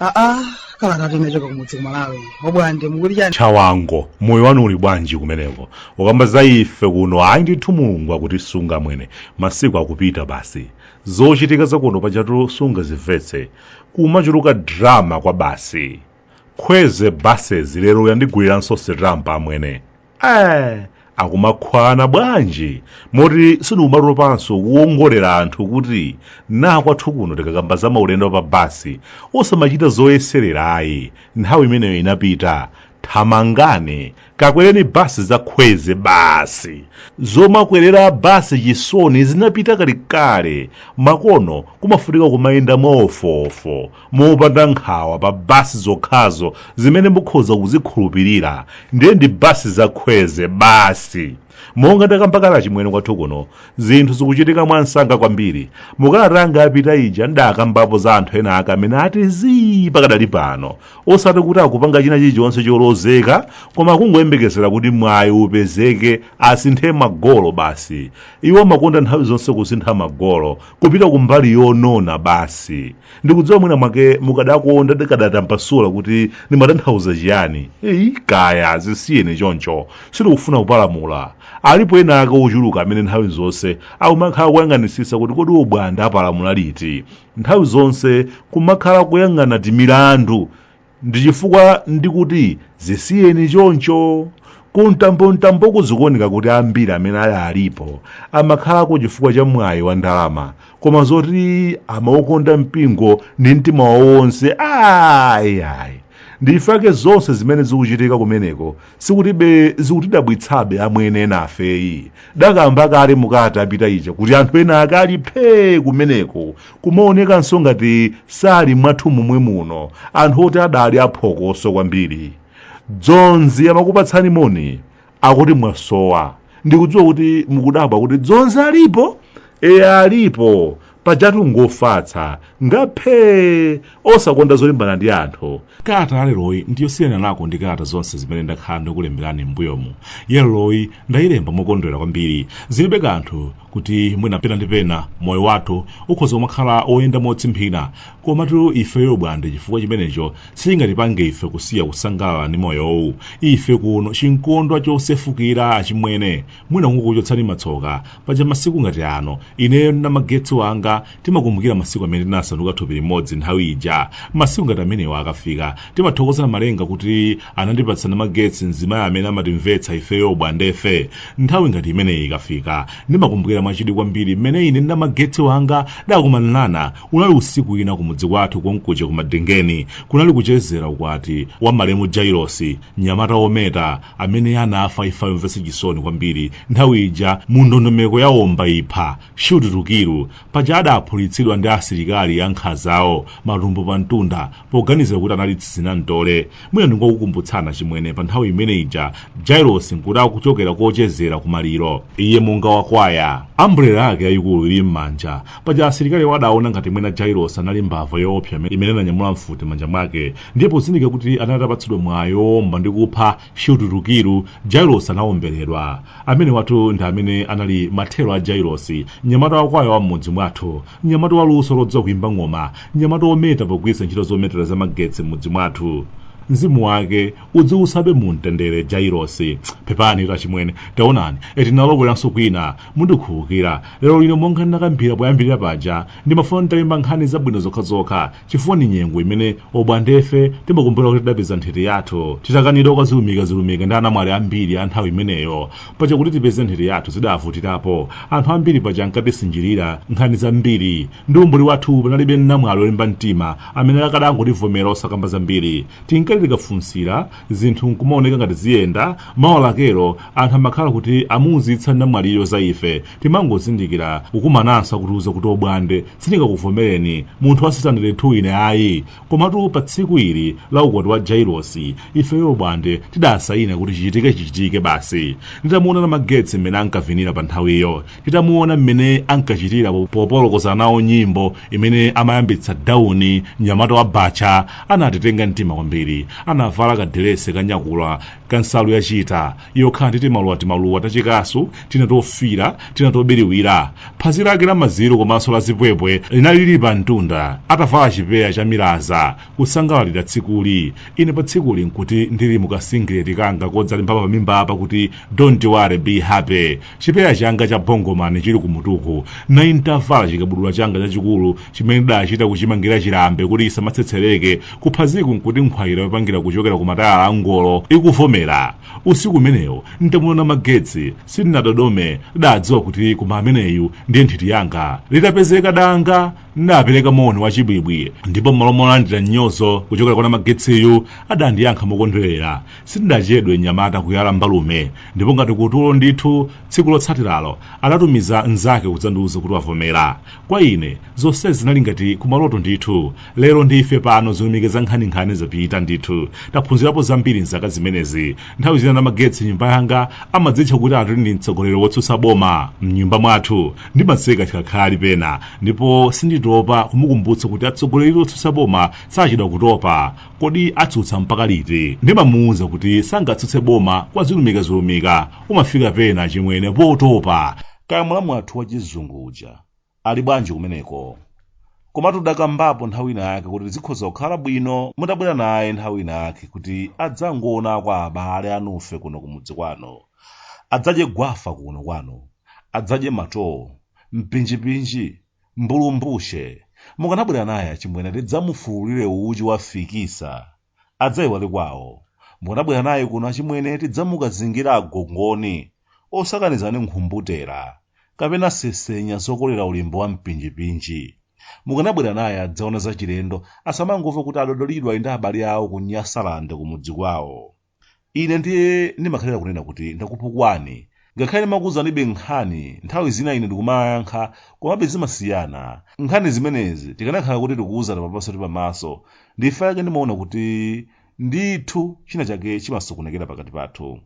aa kalata yochoka kumudzi kumalawi abwande mukuti chani chawango moyo wanu uli bwanji kumeneko ukamba za ife kuno ayi ndithu mulungu akutisunga mwene masiku akupita basi zochitika zakuno pajatu sunga zimvetse kumachuluka drama kwa basi Khwezi buses lero yandigwiranso sitampa amwene eh akumakhwana bwanji moti sindikumaropanso kuwauzira anthu kuti na kwathu kuno tikakamba za maulendo pa basi osamachita zoyeserera ayi nthawi imeneyo inapita thamangani kakwereni basi za Khwezi basi zomakwerera basi chisoni zinapita kalekale makono kumafunika kumayenda mwaofofo mopanda nkhawa pa basi zokhazo zimene mukhoza kuzikhulupirira ndiye ndi basi za Khwezi basi monga ndakamba kale achimwene kwathu kuno zinthu zikuchitika mwamsanga kwambiri mukalata yanga yapita ija ndakambapo za anthu ena ake amene ati zii pakadali pano osati kuti akupanga china chilichonse cholozeka koma kungoyembekezera kuti mwayi upezeke asinthe magolo basi iwo amakonda nthawi zonse kusintha magolo kupita kumbali yonona basi ndikudziwa mwina mwake mukadakonda ndikadatambasula kuti ndimatanthauza chiyani ayi kaya zisiyeni choncho sitikufuna kupalamula alipo ena ake ochuluka amene nthawi zonse akumakhala kuyang'anisisa kuti kodi Bwande apalamula liti nthawi zonse kumakhala kuyang'ana timilandu ndi chifukwa ndikuti zisiyeni choncho kumtambomtamboku zikuoneka kuti ambiri amene ali alipo amakhalako chifukwa cha mwayi wa ndalama koma zoti amaukonda mpingo ndi mtima wawo wonse ayi ayi nchifukwa chake zonse zimene zikuchitika kumeneko sizikutibe sizikutidabwitsabe amwene enafe ayi ndakamba kale mukalata yapita ija kuti anthu ena akali phee kumeneko kumaonekanso ngati sali mwathu momwe muno anthu oti adali aphokoso kwambiri dzonzi amakupatsani moni akuti mwasowa ndikudziwa kuti mukudabwa kuti dzonzi alipo eya alipo pajatu ngofatsa ngaphee osakonda zolimbana ndi anthu kalata yaleroyi ndiyosiyananako ndi kalata zonse zimene ndakhala ndikulemberani m'mbuyomu yaleroyi ndayilemba mokondwera kwambiri zilibe kanthu kuti mwina pena ndi pena moyo wathu ukhoza kumakhala woyenda motsimphina komatu ifeyo bwande chifukwa chimenecho sichingatipange ife kusiya kusangalala ndi moyowu ife kuno chimkondwa chosefukira achimwene mwina kungokuchotsani matsoka paja masiku ngati ano ineyo ndi namagetsi wanga timakumbukira masiku amene tinasanduka thupi limodzi nthawi ija masiku ngati amenewo akafika timathokoza namalenga kuti anandipatsa namagetsi mzimayi amene amatimvetsa ifeyo obwandefe nthawi ngati imeneyi ikafika ndimakumbukira mwachidwi kwambiri mmene ine ndi namagetsi wanga tidakumanirana unali usiku wina kumudzi kwathu konkuja kumadengeni kunali kuchezera ukwati wa malemu jailosi mnyamata wometa amene anafa imfa yomvetsa chisoni kwambiri nthawi ija mu ndondomeko ya omba ipha shoot to kill paja adaphulitsidwa ndi asilikali ankhazawo matumbo pa mtunda poganizira kuti anali tsizinamtole mwina ndingokukumbutsani achimwene pa nthawi imene ija jailosi nkuti akuchokera kochezera kumaliro iye monga wakwaya ambrela yake yayikulu ili m'manja paja asilikali awo adaona ngati mwina jailosi anali mbava yoopsa imene ananyamula mfuti m'manja mwake ndiye pozindikira kuti anali atapatsidwa mwayi woomba ndi kupha shoot to kill jailosi anaomberedwa amenewatu ndi amene anali mathero a jailosi mnyamata wakwaya wa m'mudzi mwathu mnyamata wa luso lodziwa kuimba ng'oma mnyamata wometa pogwiritsa ntchito zometera za magetsi m'mudzi mwathu mzimu wake udziusabe mu mtendere jailosi pepanitu achimwene taonani tinalowereranso kwina mundikhululukira lero lino monga ndinakambira poyambirira paja ndimafuna nditalemba nkhani zabwino zokhazokha chifukwa ndi nyengo imene obwandefe timakumbukira kuti tidapeza nthiti yathu titakanidwa kwa zilumika zilumika ndi anamwali ambiri a nthawi imeneyo paja kuti tipeze nthiti yathu zidavutirapo anthu ambiri paja ankatisinjirira nkhani zambiri ndi umbuli wathu panalibe namwali olimba mtima amene akadangotivomera osakamba zambiri tinkati tikafunsira zinthu nkumaoneka ngati ziyenda mawa lakelo anthu amakhala kuti amuuzitsa namwaliyo za ife timangozindikira kukumananso akutiuza kuti obwande sindingakuvomereni munthu wa sitandere 2 ine ayi komatu pa tsiku ili la ukwati wa jailosi ifeyo obwande tidasayina kuti chichitike chichitike basi nditamuona namagetsi mmene ankavinira pa nthawiyo titamuona mmene ankachitira popolokoza nawo nyimbo imene amayambitsa dawuni mnyamata wa bacha anatitenga mtima kwambiri anavala kadelese kanyakula kansalu yachita yokhala ndi timaluwa timaluwa tachikasu tina tofira tina tobiriwira phazi lake la maziro komanso la zipwepwe linali lili pa mtunda atavala chipeya cha milaza kusangalalira tsikuli ine pa tsikuli nkuti ndili mukasingileti kanga kodzalemba pa mimba apa kuti don't worry be happy chipeya changa cha bongomani chili kumutuku nali ntavala chikabudula changa chachikulu chimene ndidachita kuchimangira chilambe kuti chisamatsetsereke kuphaziku nkuti nkhwayira yopangira kuchokera ku matayala a ngolo ikuvomera usiku umenewo ntamuona namagetsi sindinadodome ndidadziwa kuti koma ameneyu ndiye nthiti yanga litapezeka danga ndapereka moni wachibwibwi ndipo m'malo molandira mnyozo kuchokera kwa namagetsiyu adandiyankha mokondwerera sindidachedwe mnyamata kuyala mbalume ndipo ngati kutulo ndithu tsiku lotsatiralo adatumiza mnzake kudzandiuza kuti wavomera kwa ine zonse zinali ngati kumaloto ndithu lero ndife pano zilumika nkhaninkhani zapita ndithu taphunzirapo zambiri mzaka zimenezi nthawi zina namagetsi nyumba yanga amadzitcha kuti ati ali mtsogoleri wotsutsa boma mnyumba mwathu ndimaseka chikhakhali pena ndipo sinditopa kumukumbutsa kuti atsogoleri otsutsa boma sachedwa kutopa kodi atsutsa mpaka liti ndimamuwuza kuti sangatsutse boma kwa zilumikazilumika umafika pena achimwene potopa kaya mulamu wathu wachizungu uja ali bwanji kumeneko komatu ndakambapo nthawi ina yake kuti zikhoza kukhala bwino mutabwera naye nthawi ina yake kuti adzangoona kwa abale anufe kuno kumudzi kwanu adzadye gwafa kuno kwanu adzadye matowo mpinjipinji mbulumbushe mukanabwera naye achimwene tidzamufulire uchi wafikisa adzaiwale kwawo mukanabwera naye kuno achimwene tidzamukazingira agongoni osakaniza ni nkhumbutera kapena sesenya zokolera ulimbo wa mpinjipinji mukanabwera naye adzaona zachilendo asamangomva kuti adodolidwa ndi abale awo ku nyasaland kumudzi kwawo Ine ndiye ndimakhalira kunena kuti ndakupukwani. Ngakhale ndimakuuzanibe nkhani, nthawi zina inu ndikumayankha, komabe zimasiyana. Nkhani zimenezi tikanakhala kuti tikuuzana pamaso ndi pamaso, nchifukwa chake ndimaona kuti ndithu china chake chimasokonekera pakati pathu.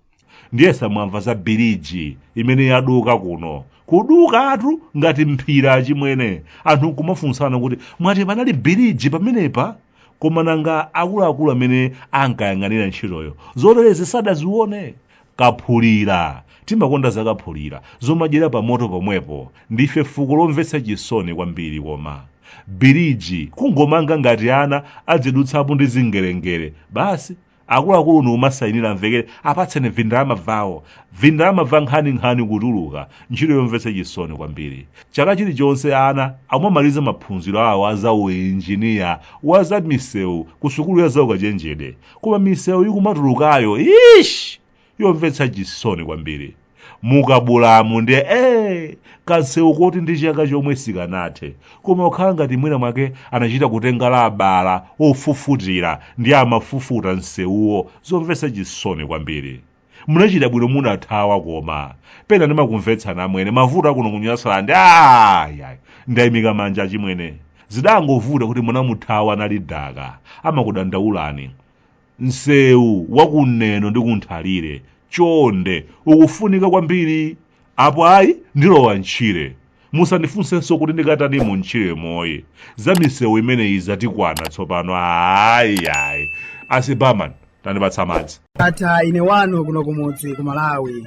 Ndiye simunamva za biriji imene yaduka kuno. Kudukatu ngati mphira achimwene. Anthu nkumafunsana kuti mwati panali biriji pamenepa? koma nanga akuluakulu amene ankayang'anira ntchitoyo zoterezi sadazione kaphulira timakonda zakaphulira zomadyera pa moto pomwepo ndife fuko lomvetsa chisoni kwambiri koma biriji kungomanga ngati ana adzidutsapo ndi zingerengere basi akuluakulu nkumasayinira amvekere apatseni vindalama vawo vindalama va nkhaninkhani kutuluka ntchito yomvetsa chisoni kwambiri chaka chilichonse ana amamaliza maphunziro awo a za uinjiniya wa za misewu ku sukulu ya zaukachenjede koma misewu ikumatulukayo ish yomvetsa chisoni kwambiri mukapulamundi ee kansewu koti ndi chaka chomwe sikanathe koma kukhala ngati mwina mwake anachita kutenga la abala ofufutira ndikumafufuta nsewuwo zomvetsa chisoni kwambiri munachita bwino munathawa koma pena ndimakumvetsani amwene mavuto akuno kunyasalandi ayayi ndayimika manja achimwene zidangovuta kuti munamuthawa nalidaka amakudandaulani Msewu wa ku Neno ndi ku Nthalire chonde ukufunika kwambiri. Apo ayi ndilowa m'tchire. Musandifunsenso kuti ndikatanimo m'tchiremoyi. Za misewu imeneyi zatikwana tsopano ayi. Ase barman tandipatsa madzi. Ndatha ine wanu kuno kumudzi ku Malawi.